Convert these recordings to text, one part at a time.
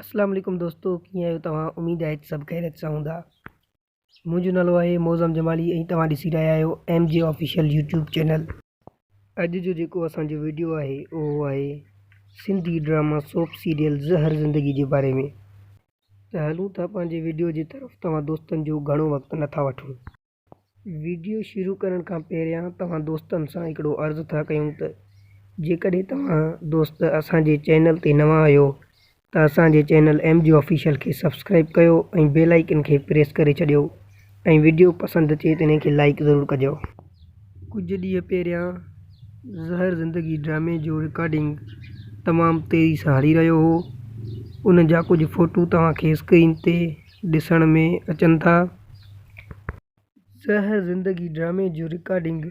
اسلام عليڪم دوستو ڪيئن آهيو توهان اميد آهي ته سڀ خيريت سان هوندا منهنجو نالو آهي موزم جمالي ۽ توهان ڏسي رهيا آهيو M G official YouTube channel اڄ جو جيڪو اسانجو ويڊيو آهي اهو آهي سنڌي ڊراما سوپ سيريل زهر زندگي جي باري ۾ ته هلون ٿا پنهنجي ويڊيو جي طرف توهان دوستن جو گهڻو وقت نٿا وٺون وڊيو شروع ڪرڻ کان پهريان توهان دوستن سان هڪڙو عرض ٿا ڪيون ته جيڪڏهن توهان دوست اسان جي چينل تي نوان آهيو ته اسان جي چينل ايم جي آفيشل کي سبسڪرائيب ڪيو ۽ بيل آئيڪن کي پريس ڪري ڇڏيو ۽ وڊيو پسند اچي ته ان کي لائيڪ ضرور ڪجو. ڪجهه ڏينهن پهريان زهر زندگي ڊرامي جو رڪارڊنگ تمام تيزي سان هلي رهيو هو ان جا ڪجهه فوٽو توهان کي اسڪرين تي ڏسڻ ۾ اچن ٿا. سه زندگي ڊرامي جو رڪارڊنگ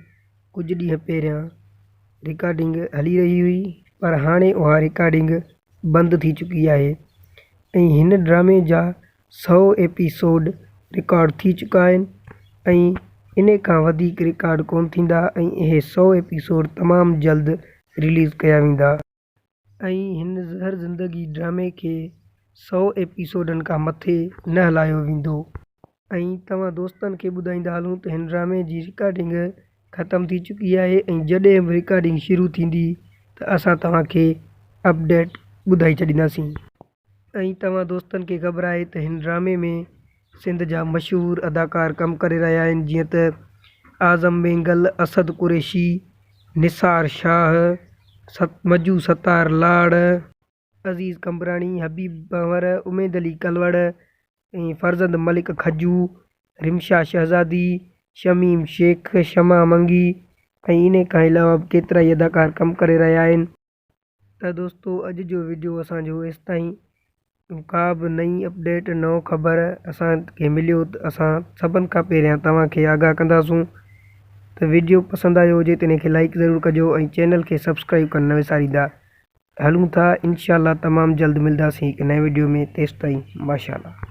ڪجهه ڏينهن پهريان رڪارڊنگ هلي رهي هئي پر هاڻي اها رڪارڊنگ بند ٿي چڪي آهي ۽ هن ڊرامي جا سؤ ايپيسوڊ رڪارڊ ٿي چڪا آهن ۽ انهي کان وڌيڪ رڪارڊ ڪونه ٿيندا ۽ اهي سؤ ايپيسوڊ تمام جلد رليز ڪيا ويندا. ۽ هن زهر زندگي ڊرامي کي سؤ ايپيسوڊن کان مٿي نه هلايو ويندو ۽ توهان دوستن کي ٻڌائيندا هلون ته هن ڊرامي جي رڪارڊنگ ختم ٿي چڪي آهي ۽ جڏهن به رڪارڊنگ شروع ٿيندي ته اسان توهان کي اپڊيٽ ٻڌائي ڇڏينداسين. ائين توهان دوستن کي خبر آهي ته هن ڊرامي ۾ سنڌ جا مشهور اداڪار ڪم ڪري رهيا آهن جيئن ته اعظم مينگل، اسد قريشي، نثار شاهه، مجو ستار لاڙ، عزيز قمبراڻي، حبيب ڀنور، اميد علي ڪلوڙ ۽ فرزند ملڪ کجو، رمشا شهزادي، شميم شيخ، شمع منگي ۽ انهي کان علاوه به ڪيترائي اداڪار ڪم ڪري رهيا آهن. ته دوستو اڄ جو ويڊيو اسان جو ايستائين ڪا به نئين اپڊيٽ نئون خبر اسان کي مليو ته اسان سڀن کان پهريان توهان کي آگاهه ڪنداسون ته ويڊيو پسند آيو هجي ته ان کي لائڪ ضرور ڪجو ۽ چينل کي سبسڪرائب ڪرڻ نه وساريندا هلون ٿا انشاء الله تمام جلد ملداسين هڪ نئين ويڊيو ۾ تيستائين ماشاء الله